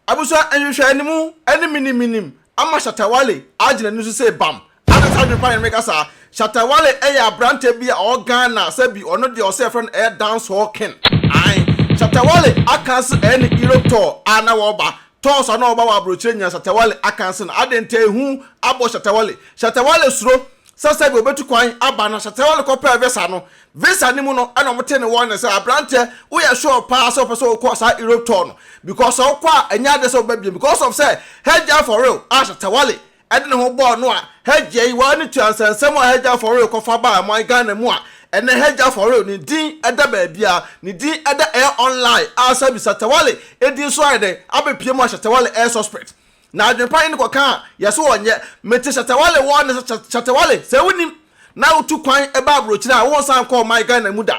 Abusua nhwehwɛɛ ne mu ne minim minim ama Shatta Wale agyina ani so se bam. Adan saa adwenpa ne ne meka saa. Shatta Wale yɛ abrante bi a ɔwɔ Ghana sɛ bi ɔno deɛ ɔse yɛfrɛ no ɛyɛ dancehall king. Ae. Shatta Wale akan se ɛyɛ ne Europe tour a na wɔba. Tours a na wɔba wɔ abrokyire nyinaa Shatta Wale akan se no. Adɛn nti a ehu abɔ Shatta Wale? Shatta Wale suro sɛ sɛbi obetu kwan aba no sɛ Tewel kɔ pɛɛ visa no visa no mu no ɛna ɔmo tee ne wɔn ne sɛ aberanteɛ woyɛ sure paa sɛ ɔpɛ sɛ ɔkɔ saa Europe tour no because sɛ ɔkɔ a ɛnyɛ adeɛ sɛ ɔbɛbie because of sɛ hagya for real a sɛ Tewale ɛde ne ho bɔɔ no a hagya yi waa ne tua nsɛnsɛm a hagya for real kɔfa baa man Ghana mu a ɛnɛ hagya for real ne din ɛda baabia ne din ɛda ɛyɛ online a sɛbi sɛ Tewale ɛdin so ayɛ dɛn abɛpie mu a sɛ Tewale ɛyɛ suspect Na adwenpa ne no kɔkaa yɛ so wɔ nyɛ mete Shatawale wɔ ne sɛ Shatawale sɛ wonim na wotu kwan ba abrokyire a wonsan nkɔ ɔman Ghana mu da.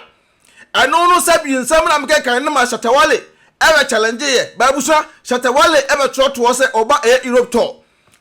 Ɛno no sɛ bi nsɛm na mekenkan no ma Shatawale ɛbɛ challenge yɛ ba abusua Shatawale ɛbɛ trɔtoɔ sɛ ɔba ɛyɛ Europe tour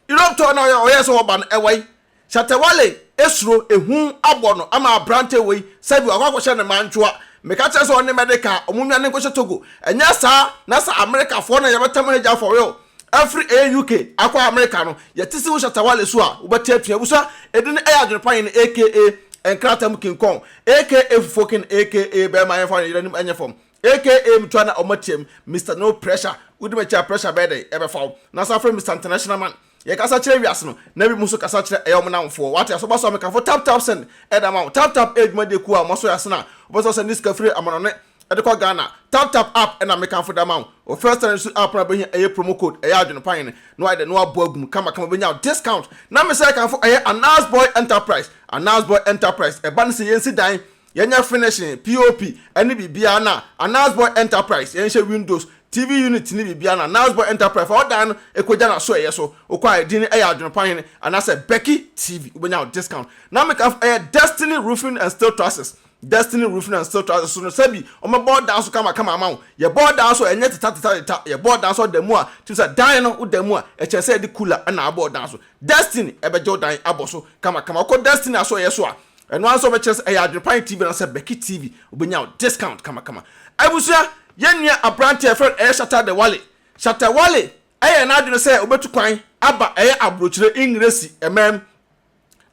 Europe tour na ɔyɛ ɔyɛ sɛ ɔba no ɛwai Shatta Wale suro ehu abɔ no ama aberanteɛ wei sɛbi wakɔ akɔhyɛ no mantwoa meka kyerɛ sɛ ɔne Mɛdeka ɔmo nnwane nkɔhyɛ Togo ɛnyɛ saa na sɛ Amerikafoɔ na yɛbɛtam Hagya for real afiri ɛyɛ UK akɔ Amerika no yɛte sɛ wo Shatta Wale so a wobɛte atua abusua ɛdu no ɛyɛ adwene pa yɛn aka nkrata mu King Kong aka fufuo King aka bɛɛma yɛnfa no yeranim ɛnyɛ fam Aka mtua na ɔma tiam Mister no pressure wodi makyi a pressure bɛyɛ dɛn ɛbɛfa wo na san frɛ Mister International man yɛ kasa kyerɛ wiase no na binom nso kasa kyerɛ ɛyɛ ɔmo namfoɔ wate aso baso a me kamfo tap tap send ɛda ma wo tap tap ɛyɛ dwumadie kuo a ɔmo aso yɛ ase na wobɛsɛ ɔsɛ ne sika firi amanɔne ɛde kɔ Ghana tap tap app ɛna me kamfo da ma wo wɔ first time nso app no a wobɛhia ɛyɛ promo code ɛyɛ adwene pa hene na wayɛ dɛn na wabɔ agum kama kama wobɛnya discount na me sɛ kamfo ɛyɛ Anas boy enterprise Anas boy enterprise ɛba ne sɛ yɛnsi dan Yɛnyɛ finishing, POP ne biribiara na Anaz Boy Enterprise, yɛnhyɛ windows, TV unit ne biribiara na Anaz Boy Enterprise, fa wo dan no kogya n'asoɛeɛ so, wokɔ a ɛdin no yɛ Adwenepa Hene anaasɛ Becky TV, wobɛnya wo discount. Na meka nso, ɛyɛ Destiny Roofing and Steel Trusses, Destiny Roofing and Steel Trusses so no sɛbi wɔbɛbɔ wo dan so kamakama ama wo, yɛbɔ wo dan so a ɛnyɛ tetatetateta, yɛbɔ wo dan so a da mu a, tumi sɛ dan no woda mu a, ɛkyerɛ sɛ yɛde cooler na abɔ wo dan so, Destiny bɛgye wo dan abɔ so kamakama, wokɔ Destiny asoɛeɛ so a, Ɛno ara nso ɔbɛkyerɛ sɛ ɛyɛ Adwerepae TV anaasɛ Becky TV, obenya wo discount kamakama. Abusua, yɛn nua aberante a yɛfrɛ no ɛyɛ Shatta Dewale. Shatta Wale ayɛ n'adwene sɛ obetu kwan aba ɛyɛ Aburokyire, Engiresi, man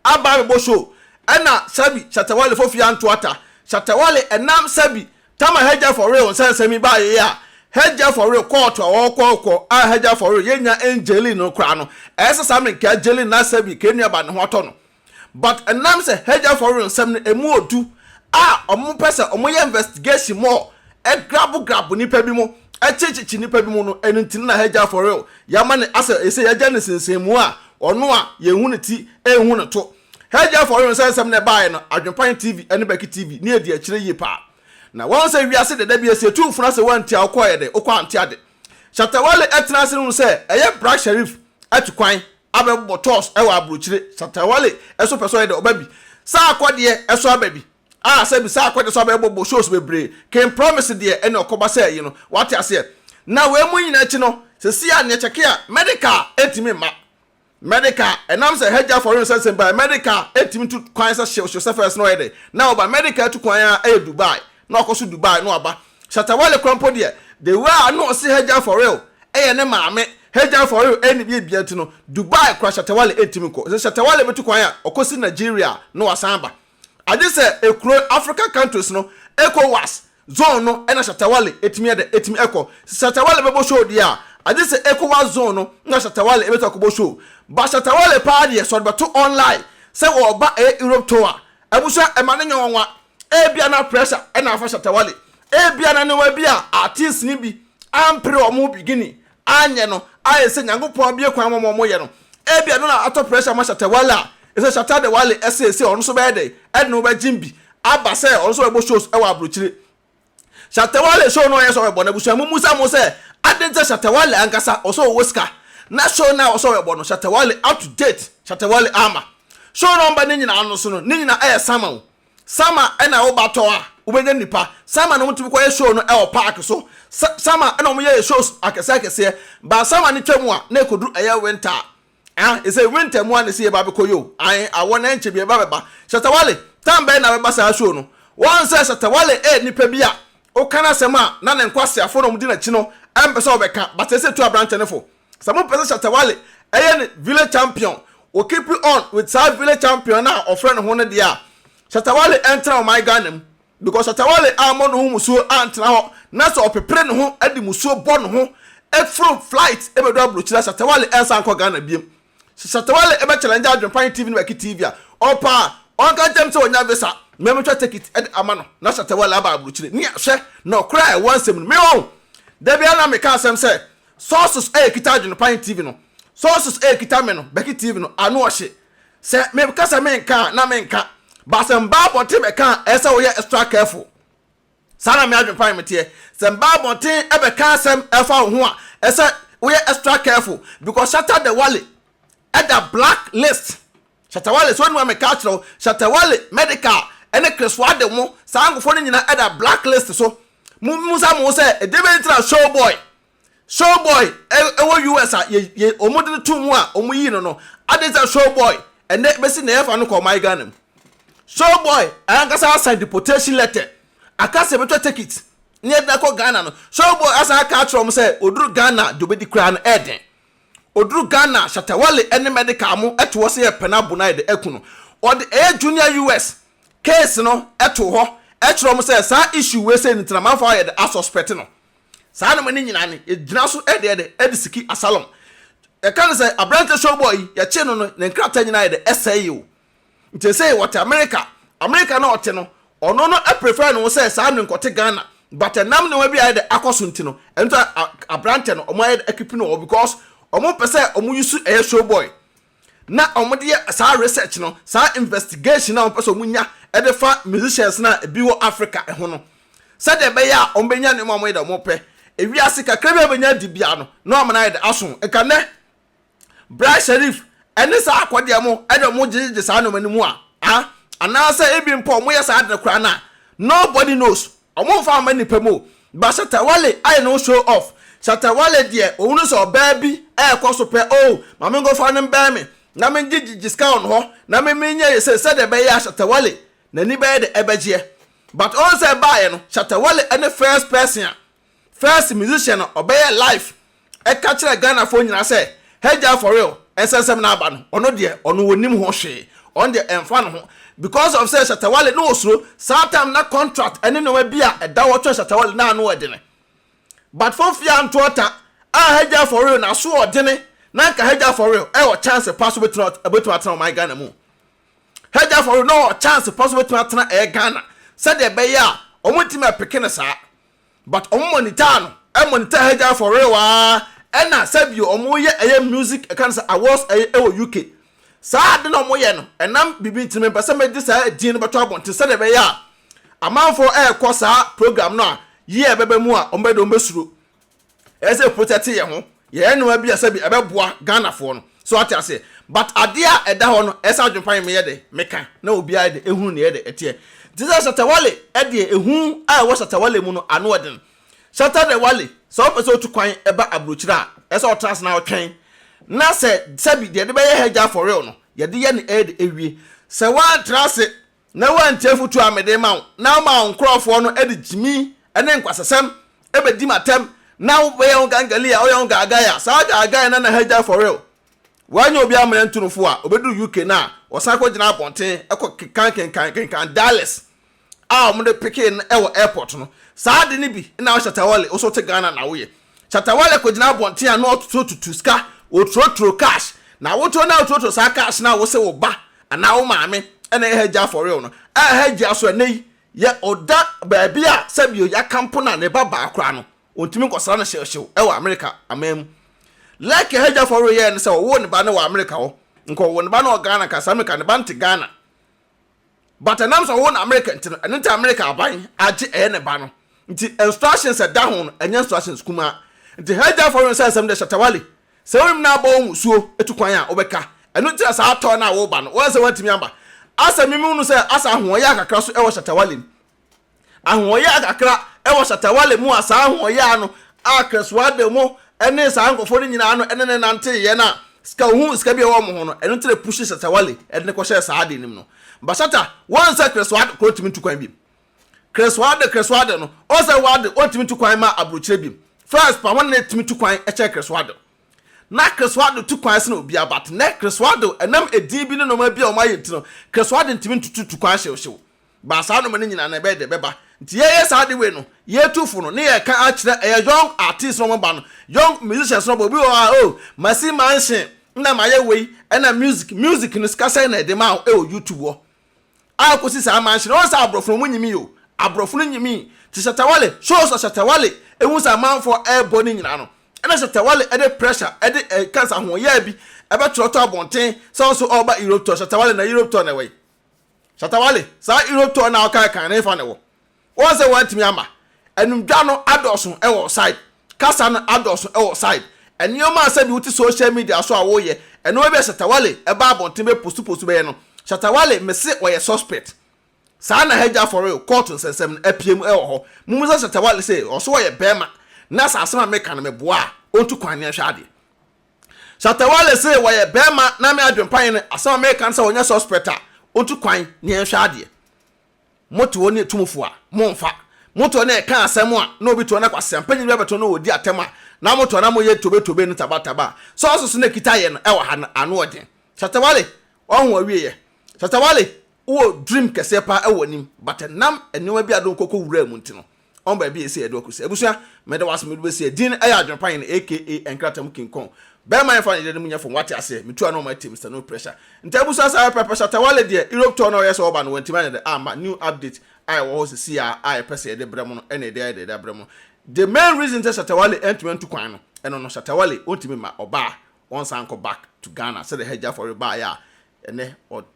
aba abɛbɔ show ɛna Sabi Shatta Wale Fofi Anto Atta. Shatta Wale ɛnam Sabi Tama Hagya For Real nsɛnsɛm yi baa yei a, Hagya For Real kɔɔto a wɔkɔɔkɔ a Hagya For Real yɛnnya ɛngyee Lynn no koraa no, ɛyɛ sɛ saa mmerɛ nka ɛgye Lynn na Sabi ka nnuaba ne ho atɔ no. But ɛnam sɛ Hagerford no nsɛm no ɛmu ɔdu a ɔmo pɛ sɛ ɔmo yɛ investigation mu ɔ grab grab nnipa bi mo kye kye kye nnipa bi mo no ɛno nti no na Hagerford no yama no asɛ ɛsɛ yagya no nsensɛn mu a ɔno a yɛn hu no ti nhu no to Hagerford no sɛ nsɛm no ɛbaeɛ no Adwenpan TV ɛne Bɛki TV ne ɛdi akyire yie paa na wahu sɛ wiase dɛ da bi ɛsɛ yɛtu mfona sɛ woantie a wokɔ yɛ dɛ wokɔ ante ade Shatta Wale ɛtena ase no hu sɛ ɛyɛ Bra Sherif atu kwan abɛbobɔ toss wɔ abrokyire. Satawale nso pɛ sɛ ɔyɛ dɛ ɔba bi. Saako deɛ nso aba bi. A sɛbi Saako deɛ nso abɛbobɔ shows bebree. King Promise deɛ ɛne ɔkɔba sɛ ayi no. Wate aseɛ? Na wei mu nyinaa akyi no, seesei a neɛ kyɛke a, medical ntumi mma. Medical, ɛnam sɛ Hajjah Foreign Research Center baeɛ, medical ntumi tu kwan sɛ hyew hyew sɛ first no ɔyɛ dɛ na ɔba. Medical tu kwan ara yɛ Dubai na wakɔ so Dubai na waba. Shatta Wale kora mpo deɛ the way a na ɔse Hagya for real yɛ ne maame Hagya for real ɛyɛ ne bia bia nti no Dubai kora Shatta Wale ɛntimi nkɔ sɛ Shatta Wale bɛtu kwan a ɔkɔsi Nigeria na wasan aba agye sɛ ɛkuro African countries no Ecowas zone no na Shatta Wale ɛtumi yɛ dɛ ɛtumi ɛkɔ sɛ Shatta Wale bɛbɔ show deɛ a agye sɛ Ecowas zone no na Shatta Wale ɛbɛtu akɔbɔ show but Shatta Wale paa deɛ sɛ ɔde bɛto online sɛ ɔreba ɛyɛ Europe tour a abusua ɛma ne nyɛ nwanwa Ebia na pressure na afa Shatta Wale. Ebia na nneɛma bi a artists no bi ampere wɔn beginning anyɛ no a ɛsɛ Nyankopɔn abue kwan ma wɔn wɔyɛ no. Ebia no na atɔ pressure ma Shatta Wale a ɛsɛ Shatta de Wale ɛseesei ɔno nso bɛyɛ dɛn ɛde ne ho bɛgyem bi aba sɛ ɔno nso bɛbɔ shows ɛwɔ abrokyire. Shatta Wale show no a ɔyɛ sɔre bɔ no abusua mu mmusa mo sɛ adɛn nti na Shatta Wale ankasa ɔsɛ ɔwɔ sika na show no a ɔsɔre bɔ no Shatta Wale up to date Shatta Wale ama show no ɔmba ne nyinaa no so no ne nyinaa ɛyɛ Sama o Sama ɛna wo ba tɔ a wobɛnya nnipa Sama na wɔtumi kɔyɛ show no ɛwɔ park so Sama ɛna wɔyɛ shows akɛseɛ akɛseɛ but Sama no twa mu a na ɛkɔduru ɛyɛ winter a Ah ɛsɛ winter mu a na ɛsɛ yɛba bɛkɔ yoo ae awɔ na ɛnkyɛ biaa bɛba Shatta Wale time bɛn na bɛba saa show no woahu sɛ Shatta Wale yɛ nipa bi a woka n'asɛm a na ne nkwaseafoɔ na ɔmo di n'akyi no ɛmpɛ sɛ ɔbɛka but ɛsɛ tu abrantɛ no fo sɛ mo pɛ sɛ Shatta Wale ɛyɛ ne village champion wo keep on with saa village champion no a ɔfrɛ ne ho no deɛ a Shatta Wale ɛntena ɔman Ghana mu because Atawale ammɔ ne ho musuo antena hɔ na sɛ ɔpepere ne ho de musuo bɔ ne ho foro flight bɛdu aburokyire a Shatawale ɛnsan nkɔ Ghana biom. Sɛ Shatawale bɛ challenge Adwenpan TV ne Baki TV a, ɔpɛ a ɔnka nkyerɛ me sɛ wanya visa ma me twa tekit de ama no na Shatawale aba aburokyire. Ne a hwɛ nɔkorɛ a ɛwɔ nsɛm no mu. Me wɔn! Da biara na meka asɛm sɛ sources a ɛkita Adwenpan TV no, sources a ɛkita me no, Baki TV no, ano ɔhye. Sɛ me ka sɛ menka a na menka but sɛ mba abɔnten bɛka a ɛsɛ sɛ woyɛ extra careful. Saa na me adwenpan me teɛ. Sɛ mba abɔnten bɛka asɛm ɛfa wo ho a ɛsɛ woyɛ extra careful because Shatta the Wale ɛda black list. Shatta Wale sɛ wonim a meka akyerɛ wo Shatta Wale, Medikal ɛne Chris Wade mo saa nkorɔfoɔ no nyina ɛda black list so. Mo bisa mo ho sɛ ɛdeɛbɛn nti na Showboy Showboy wɔ US a yɛ yɛ wɔn de no to mu a wɔn yii no no adeɛ sɛ Showboy ɛnɛ bɛsi na yɛfa no kɔ ɔman Ghana mu Showboy ankasa asan deportation letter aka sɛ bɛtwa ticket ne yɛde akɔ Ghana no Showboy asan aka akyerɛ wɔn sɛ oduru Ghana deɛ obɛdi koraa no ɛɛden oduru Ghana Shatawale ɛne medical mo ɛto hɔ sɛ yɛ pɛ no abo no ayɛ de aku no ɔde ɛyɛ junior US case no ɛto hɔ ɛkyerɛ wɔn sɛ saa issue wei sɛ ne tena manfa ayɛ de asuspect no Saa nneɛma no nyinaa no, yɛgyina so de yɛ dɛ? De siki Absalom. Yɛka no sɛ aberante showboy yi, yɛkyee no no, ne nkrataa nyinaa yɛ dɛ? Ɛsɛe o. Nti ɛsɛe wɔte Amerika. Amerika na ɔte no, ɔno no prefer ne ho sɛ saa no nkɔte Ghana. But ɛnam nneɛma bi a ayɛ dɛ akɔ so nti no, ɛno nti aberante no, wɔayɛ dɛ akeep no hɔ because wɔmpɛ sɛ wɔuse ɛyɛ showboy. na wɔde yɛ saa research no, saa investigation a wɔpɛ sɛ wɔnya de fa musicians no a ebi wɔ Africa ho no, sɛdeɛ ɛbɛyɛ a wɔbɛnya nneɛma a wɔyɛ dɛ wɔpɛ. Ewiase kakra bi a wɔbɛnya adi bia no, na wɔn ayɛ dɛ aso. Nka nnɛ, Bra Sherif ne saa akɔdeɛ mo de wɔn gyegyegye saa nneɛma no mu a, ah, anaasɛ ebi mpo wɔyɛ saa ade no koraa no a, nobody knows. Ɔmo nfa mma nipa mu o. But Shatta Wale ayɛ ne ho show off. Shatta Wale deɛ ohunu sɛ ɔbaa bi ɛɛkɔ so pɛ oo ma me nkɔfa no mbɛn me na me ngye gye sika wɔ ne hɔ na me me nyɛ yese sɛdeɛ ɛbɛyɛ a Shatta Wale n'ani bɛyɛ dɛ ɛbɛgyeɛ but ɔn sɛ ɛbaayɛ no Shatta Wale ɛne first person a first musician a ɔbɛyɛ live ɛka kyerɛ Ghana foɔ nyinaa sɛ Hagya for real ɛsɛ nsɛm no aba no ɔno deɛ ɔno ɔnim ho hwee ɔno deɛ ɛmfa no ho because of sɛ Shatta Wale na ɔsuro saa time na contract ɛne nnoɔma bi a ɛda hɔ kyerɛ Shatta Wale na ano ɛdene but fofie anto ɔta a Hagya for real n'aso ɔdene na nka Hagya for real ɛwɔ chance pa so bɛtumi atena ɔman Ghana mu Hagya for real na ɔwɔ chance pa so bɛtumi atena ɛyɛ Ghana sɛdeɛ ɛbɛyɛ a wɔntumi ɛpeke no saa but ɔmo monitor no ɛ monitor Hajar for real aa ɛna sɛbio ɔmo yɛ ɛyɛ music ɛka no sɛ awards ɛyɛ ɛwɔ UK saa ade no ɔmo yɛ no ɛnam biribi nti no mempɛ sɛ mɛde saa ɛdin no bɛto abɔnten sɛdeɛ ɛbɛyɛ a amanfoɔ ɛɛkɔ saa program no a year bɛba mu a ɔmo bɛyɛ dɛ ɔmo bɛsuro ɛyɛ sɛ protect yɛn ho yɛyɛ nneɛma bi a sɛbi ɛbɛboa ghanafoɔ no so ate aseɛ but adeɛ a ɛda hɔ no ɛyɛ sɛ adwempa yɛ meyɛ dɛ meka na obiara de ehunu ne yɛ dɛ ɛteɛ nti sɛ shatawale ɛdeɛ ehu a ɛwɔ shatawale mu no ano ɛden shata de wale sɛ ɔpɛ sɛ otu kwan ɛba aburokyire a ɛyɛ sɛ ɔtena ase na ɔtwɛn na sɛ sɛbi deɛ yɛde bɛyɛ hɛgya for real no yɛde yɛ ne ɛyɛ dɛ ewie sɛ wantena ase na woantie afotu a mede rema wo, na womaa wo nkurɔfoɔ no de gyimi ne nkwasasɛm bɛdi m'atam, na wobɛyɛ wo gangali a woyɛ wo gaagai a, saa gaagai no na hagya fɔre wo. Woanyɛ obi ammrɛ nto no fo a, ɔbɛduru UK no a, ɔsan kɔgyina abɔnten kɔ kenkan kenkan kenkan dialess a wɔde pekee no wɔ airport no. Saa ade no bi na wohyɛ Tawale, wo nso wote Ghana na woyɛ. Shatta Wale kɔgyina abɔnten a na ɔtotɔ tutu sika, ɔturoturo cash, na awotɔ na woturoturo saa cash no a wose wo ba anaa wo maame na ɛyɛ Hajjia for real no, a Hajjia so ɛnnɛ yi yɛ ɔda baabi a sɛbio yɛakampo no a ne ba baa koraa no ɔntumi nkɔsra no hyewhyew wɔ America aman mu. Like a Hajjia for real yɛɛ ne sɛ ɔwoo ne ba no wɔ America hɔ, nka ɔwoo ne ba no wɔ Ghana nka sɛ America ne ba nte Ghana. but ɛnam sɛ ɔwɔ no America nti no ɛno nti America aban agye ɛyɛ ne ba no nti instructions ɛda ho no ɛnyɛ instructions kumaa nti Hajjah fɔ wɛn sɛ nsɛm deɛ Shatawale sɛ wonim na abɔ wo musuo atu kwan a wobɛka ɛno nti na saa tɔɔ no a woba no woansɛ woantumi amba asɛ mimi hunu sɛ asa ahoɔyɛ akakra so ɛwɔ Shatawale mu ahoɔyaa kakra wɔ Shatta Wale mu a saa ahoɔyaa no a Crespo Adamo ne saa nkurɔfoɔ no nyinaa no ne no nanteeɛ no a sika ohun sika bi a ɛwɔ wɔn ho no ɛno nti na pushi Shatta Wale de no kɔhyɛɛ saa adeɛ no mu no but Shatta wɔn sɛ Crespo Ade kora ɔntumi ntu kwan bi Crespo Ade Crespo Ade no wɔn sɛ wɔade ɔntumi ntu kwan ma aburokyerɛ bi first pa wɔn na ɛtumi tu kwan kyɛn Crespo Ade na Crespo Ade tu kwan sene obiara but nɛ Crespo Ade ɛnam edin bi ne nneɛma bi a wɔn ayɛ nti no Crespo Ade ntumi ntutu tu kwan hyewhyew But saa nnoɔma no nyinaa no ɛbɛyɛ dɛ ɛbɛba nti yɛyɛ saa ade wei no yɛtu fo no ne yɛka akyerɛ ɛyɛ young artist no ɔmo ba no young musicians no ɔmo ba obi wɔ hɔ a oh masi mansion ɛna mayɛ wei ɛna music music no sika sɛn na ɛde ma wo ɛwɔ YouTube hɔ a kɔsi saa mansion no wɔn sɛ aborɔfo no ɔmo nyimi yi o aborɔfo no nyimi te Shatta Wale shows a Shatta Wale ehu sɛ amanfoɔ ɛɛbɔ ne nyinaa no ɛna Shatta Wale ɛde pressure ɛde ɛka sɛ ahoɔyaa bi ɛbɛtwerɛ to abɔnten sɛ ɔnso ɔɔba Europe tour Shatta Wale na Europe tour na ɛwɔ yi Shatta Wale, saa Europe tour no a wokae kan no hefa na ɛwɔ? Woahu sɛ woantumi amma? Anumdwa no adɔɔso wɔ wo side, kasa no adɔɔso wɔ wo side, nneɛma a sɛbi wote social media so a woyɛ, ɛno ebia Shatta Wale ɛba abɔnten bɛ post post bɛyɛ no. Shatta Wale mese ɔyɛ suspect. Saa na hagya for real court nsɛnsɛm no apue mu wɔ hɔ. Mommisa Shatta Wale sɛ ɔso ɔyɛ bɛɛma na sɛ asɛm a meka no meboa a ɔntu kwan ne ɛnhwɛ adeɛ. Shatta Wale se wɔyɛ bɛɛma na me adwen pae ne asɛm a meka no sɛ ɔnyɛ suspect a ɔntu kwan ne yɛnhwɛ adeɛ. Mote hɔ ne atumfoɔ a, momfa. Mote hɔ ne ɛka asɛm a na obi te hɔ na kwasiampa nyini bi abɛto no na ɔdi atɛm a, na mote hɔ na moyɛ tobe tobe ne taba taba a, sɛ ɔsoso na ɛkita yɛ no ɛwɔ ha no ano ɔden. Shatta Wale, ɔho awieɛ. Shatta Wale, wowɔ dream kɛseɛ paa ɛwɔ w'anim but ɛnam nneɛma bi a do nkɔ kɔ wuraa mu nti no, Ɔn baabi a esi ɛdo akosi. Abusua, meda wo ase mede besi a din ɛyɛ adwene pa hene aka nkrataa mu king kong. Bɛɛma yɛnfa ne yere no mu nyɛ fam wate aseɛ. Metu ano ma tie Mister No Pressure. Nti abusua saa yɛ pɛpɛ Shatta Wale deɛ Europe tour no a ɔyɛɛ sɛ ɔba no wantumi anyɛ dɛ amma new update a ɛwɔ hɔ sesei a a yɛpɛ sɛ yɛde brɛ mo no ɛna yɛde ayɛ dɛ de abrɛ mo no. The main reason sɛ Shatta Wale antumi antu kwan no ɛno no Shatta Wale ɔntumi mma ɔbaa ɔnsan nkɔ back to Ghana sɛdeɛ Hajji Afɔre baeɛ a Ɛnnɛ,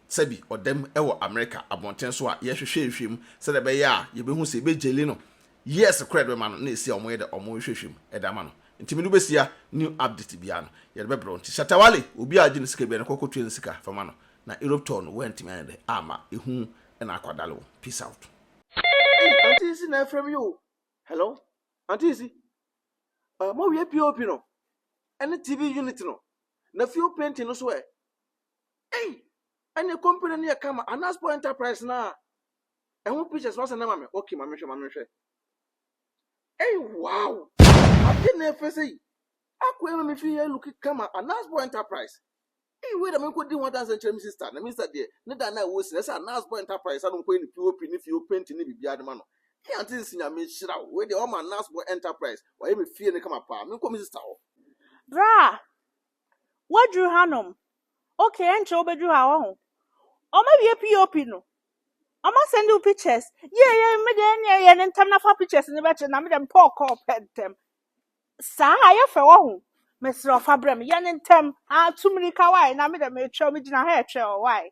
Sɛbi ɔda mu wɔ Amerika abɔnten so a yɛhwehwɛ nhwehwɛ mu sɛdeɛ ɛbɛyɛ a yɛbɛhu sɛ yɛbɛgyeli no years korɔ a yɛde bɛma no na ɛsi a wɔyɛ dɛ wɔyɛ hwehwɛ mu de ama no nti mede wobɛsia new update biara no yɛde bɛbrɛ wo nti Shatta Wale obi a ɔgye no sika biara no kɔ kɔtua no sika fa ma no na Europe tour no woantumi anyɛ dɛ amma ɛhu na akwadale wo peace out. Ei auntie Isi na ɛfrɛ me yi o Hello auntie Isi uh, moawie POP no ɛne TV unit no na fuel painting no so ɛ Ei! Ɛne company no yɛ kama. Anaspo Enterprise no a ɛho pictures no asɛ na ma me. Okay, ma menhwɛ, ma menhwɛ. Ei, wow! Ade na ɛfɛ sɛ yi. Akɔ ɛma me fi yɛ look kama. Anaspo Enterprise. Ei, wei da me nkɔ di ho adanse nkyerɛ me sister. Na me sister deɛ, ne da na ɛwɔ si na ɛsɛ Anaspo Enterprise ano nkɔ yɛ ne POP ne fie o painting ne biribiara de ma no. Ei, ante nsi nyame nhyira wo. Wei deɛ wɔma Anaspo Enterprise. Wɔayɛ me fie no kama paa. Me nkɔ me sister hɔ. Berɛ a Woaduru hanom. Okay, ɛnkyɛ wobɛduru ha, wahu. Wɔawie POP no. Wɔasɛnde wo pictures. Yie yɛ me deɛ ɛneɛ yɛ no ntɛm na fa pictures no bɛkyɛ na me deɛ mepɛ ɔkɔɔ pɛ ntɛm. Saa yɛ fɛ wahu. Mesrɛ ɔfa brɛ me yɛ no ntɛm. Ah, tu mmirika wae na me deɛ metwɛ wo megyina ha ɛtwɛ ɔ wae.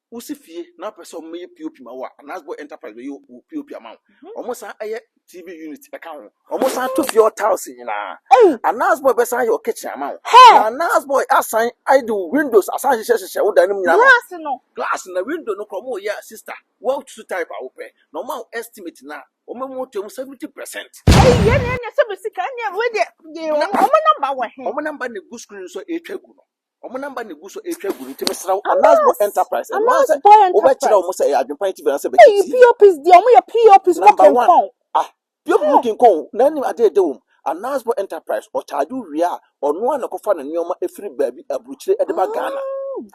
Wosi fie na wopɛ sɛ wɔyɛ POP ma wo a, Anasbo Enterprise bɛyɛ wo POP ama wo. Mhm. Wɔsan yɛ TV unit ka ho. Wɔsan to fie hɔ tiles nyinaa. Anasbo bɛsan yɛ wo kitchen ama wo. Na Anasbo asan ayɛ de wo windows asan hyehyɛ hyehyɛ wo dan no mu nyinaa. Glass no. Glass na window no kora wɔyɛ a sister. Wɔatutu type a wopɛ. Na wɔn a estimate na wɔn mu to mu 70%. Ɛyi yɛ ne ɛnyɛ sɛ bɛ sika ɛnyɛ wei deɛ. Wɔn namba wɔ he? Wɔn namba na egu screen so a ɛretwa gu no. Wɔn namba na egu so retwa gu no nti mesrɛ wo Anas Boy Enterprise ɛno ara sɛ wobɛkyerɛ wɔn sɛ ɛyɛ adwempa nti bɛn sɛ bɛkyɛ tii. POPs deɛ wɔn yɛ POPs mo kenkɔn. Ah POP mo kenkɔn na anim adeɛ ɛda wɔm. Anas Boy Enterprise ɔcharge wo wie a ɔno ara na ɛkɔfa ne nneɛma ɛfiri baabi aburukyire ɛde ba Ghana.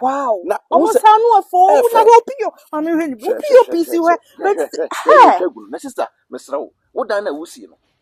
Wow. Na wɔn sɛ saa no afɔ wɔn na hwɛ PO maame hwɛ ne POPs hwɛ. Hwɛ hwɛ hwɛ yɛ retwa gu no na sister mesrɛ wo wo dan na wusie no.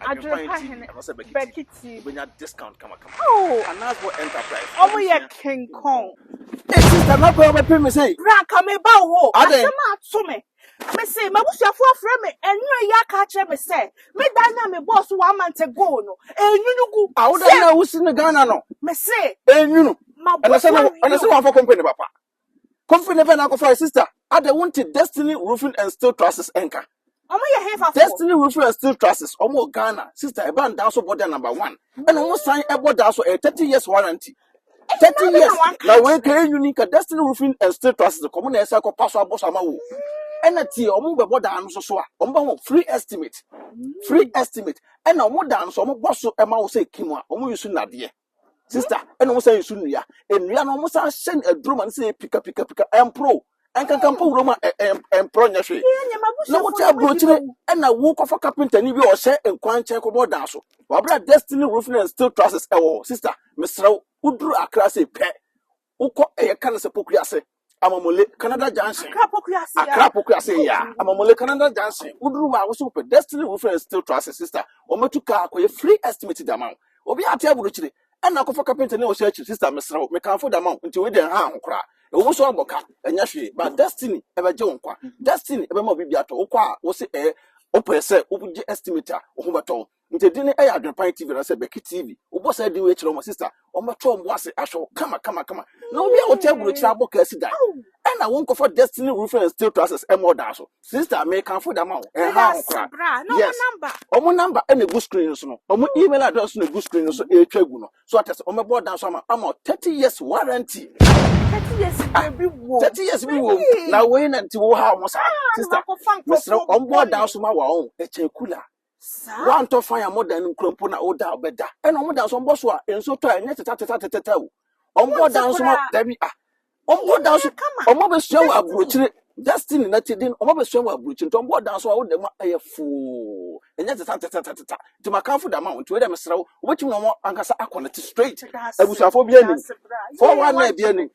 Adwerepa hene Bakiti. Oh, ọmụ yɛ kenkɔn. Sista na bɛn bɛpɛ mi sɛ. Branka mi ba wo hɔ. Asɛm ato mi. Mi se m'abusuafo afrɛ mi enwura yi aka akyerɛ mi sɛ me dan na me bɔɔ so one month ago no enwunu gu. Awo dan na wusi no Ghana no. Mi se. Enwunu. Ɛna sɛ na ɛna sɛ wɔn afɔ company papa. Kofi ne bɛn akɔfa sister adɛ wonte Destiny Roofing and Steel Trusses nka. Ɔmo yɛ hefa fo. Destiny Roofing and Steel Trusses ɔmo wɔ Ghana sister ɛba ndaa so bɔ dɛ number one ɛna ɔmo san ɛbɔ daa so ɛyɛ thirty years warranty thirty years na wei ka yɛ unique ka Destiny Roofing and Steel Trusses kɔ ɔmo na ɛsɛ kɔ pa so abɔ so ama wo ɛna tie ɔmo bɛbɔ daa no so so a ɔmo bɛ ho free estimate free estimate ɛna ɔmo daa no so ɔmo bɔ so ɛma wo sɛ kim a ɔmo yi so nadeɛ Sister, ɛna wɔn san nsu nnua. Nnua no wɔn san hyɛ no aduro ma no sɛ pika pika pika ɛmporo. Ɛnkankan mpo wuram a ɛ- ɛm- ɛmporo nyɛ hwee. Yɛn nyɛ m'abusuafo Na wote na wɔadi aburokyire m'awu. ɛna wokɔfa kapentani bi a ɔhyɛ nkwan nkyɛn kɔbɔ dan so. Wabra Destiny Roofing and Steel Trusses ɛwɔ hɔ. Sister, mesrɛ wo, woduru Accra sei pɛ, Wokɔ ɛyɛ ka no sɛ Poku ase, Amamule, Canada Junction. Accra Poku ase ya. Accra Poku ase ya, Amamule, Canada Junction. Woduru hɔ a, wo nso wopɛ Destiny Roofing Steel Trusses, sister. Wɔatu kaa akɔyɛ free estimate de ama wo. Obiara te aburokyire, ɛnna akɔfa kapenta ne ɔhyɛ akyiri. Sister, mesrɛ wo, mekamfo de ama wo, nti wei deɛ nha ho koraa. Ɛwɔ mu sɛ wɔabɔ ka, ɛnyɛ hwee, but Destiny bɛgye wo nkwa. Destiny bɛma wo biribi atɔ. Wokɔ a, wose ɛɛ, wopɛ sɛ wogye estimate a, wo ho bɛtɔ wo. Nti din no yɛ Adwenpan TV anaasɛ Bɛki TV. Wobɔ saa din wei kyerɛ wɔn sista, wɔbɛtɔ wɔn bo ase ahwɛ wo kama kama kama. Na obi a wote aburokyire abɔ kasi dan. Ɛna wonkɔfa Destiny Roofing and Steel Trusses ɛma ɔdan so. Sista, mekamfo de ama wo. Ɛnha ho koraa. Yes. Wɔn number ɛna egu screen no so no. Wɔn email address na egu screen no so ɛretwa gu no. So ate ase, wɔbɛbɔ ɔdan so ama ama 30 years warranty. 30 years bi wɔ. 30 years bi wɔ. Na wei na nti wo ha wɔn saa. Sista, mesrɛ wɔn bɔ ɔdan so ma wɔn. Ɛkyɛn kula. Saa. Wantɔ fan a modan no nkura mpo na woda ɔbɛda. Ɛna wɔn da so wɔbɔ so a nso tɔ a ɛnyɛ tetatatatata o. Wɔn bɔ dan so ma dabi a. Wɔn bɔ dan so wɔn abɛsua wɔ aburokyire destiny na ti din wɔn abɛsua wɔ aburokyire nti wɔn bɔ dan so a woda mu ɛyɛ foo ɛnyɛ tetatatatata nti ma kanfo da ma wɔn nti wɔyɛ dɛ mesrɛ wo wobɛtumi na wɔn ankasa akɔ ne te straight abusuafo bi anim fɔwa na ebi anim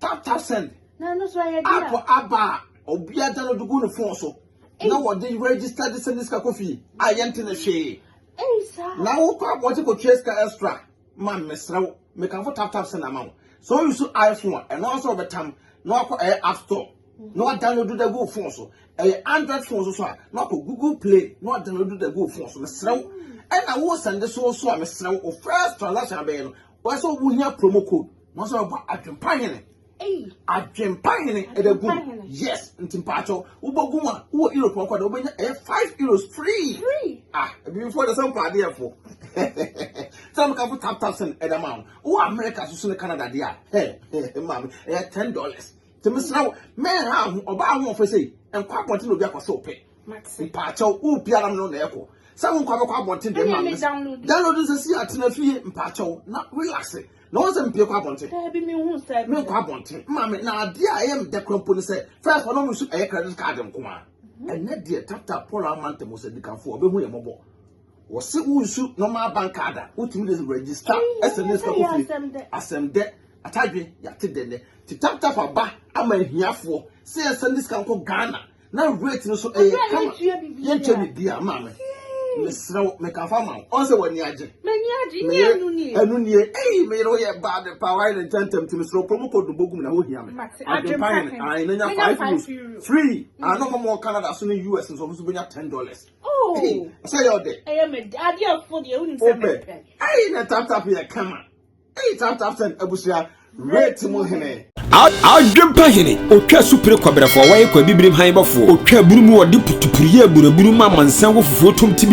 Tap tap send. Na no so ayɛ dia. App aba a obia download gu no phone so. Na wɔde register de send sika kɔ fie. A yɛnte ne hwee. Ei sa. Na wo kɔ abɔgye kɔ tua sika extra. Ma mesrɛ wo. Mekamfo tap tap send ama wo. So you so iPhone a ɛno nso ɔbɛtam na wakɔ ɛyɛ app store. Na wa download da gu phone so. Ɛyɛ Android phone so so a na wakɔ Google Play na wa download da gu phone so. Mesrɛ wo. Ɛna wo send so so a mesrɛ wo. First transaction abɛyɛ no Wɔn sɛ wɔn hia promo code. Wɔn sɛ wɔbɔ adwempa hene. Adwempa hene ɛdɛ gu mu. Yes, nti mpatsɔ wobɔ gu mu a wowɔ Europe ɔkɔ dɛ wobɛnya ɛyɛ five euros free. Ah, ebibifo ɛdɛ sɛ mpɔ adeɛ fo. Sɛ meka fo tap tap send ɛdɛ ma wɔn. Wowɔ America soso ne Canada deɛ a, hey, maame ɛyɛ ten dollars. Nti mesrɛ wo, mɛnha ho ɔbaa ahoɔfɛ sei, nkɔ abɔnten na obi akɔsew pɛ. Mate. Mpaakyɛw, wo pia na mene na ɛkɔ. Sɛ wo nkwa bɛkɔ abɔnten dɛm ma me. Download nsɛ si atena fie mpaakyɛw na relax. Na wɔn sɛ mpie kɔ abɔnten. Daabi me hu sɛ. Me nkɔ abɔnten. Ma me na adeɛ a ɛyɛ me dɛ kora mpo ne sɛ first ɔno nso ɛyɛ credit card nko a. Mhm. Ɛnɛ deɛ tata Paul Amanta mo sɛ dikanfo ɔbɛhu yɛ mɔbɔ. Wɔse wo nsu normal bank card a wotumi de register ɛsɛ ne sika kɔ fie. Asɛm dɛ. Atadwe yɛate dɛ nɛ. Ti tap tap aba ama ahiafoɔ sɛ yɛsɛ ne sika nkɔ Ghana. na rate no so ɛyɛ kama yɛntua biribiara maa me mesrɛ wo meka fa ma wo ɔn sɛ w'ani agye ɛno nie ei meyere woyɛ bad paa wayɛ ne ntɛntɛm nti mesrɛ promo code no bɔgum na wohia me adwempa hene ae na nya 5 euros free ano hɔ mɔ canada so ne us nsɔfo so bɛnya 10 dollars sɛ yɛ ɔdɛ wopɛ ei na taptap yɛ kama Eyi tap tap send abusua rate mu hene. Adwempa hene, otwa asupire kwabrɛfoɔ, wɔyɛ kwa bibirim han bɔfoɔ, otwa abunu mu wɔde putupuru yɛ aburabunu ma amansan wɔ fufuo tom ti bi.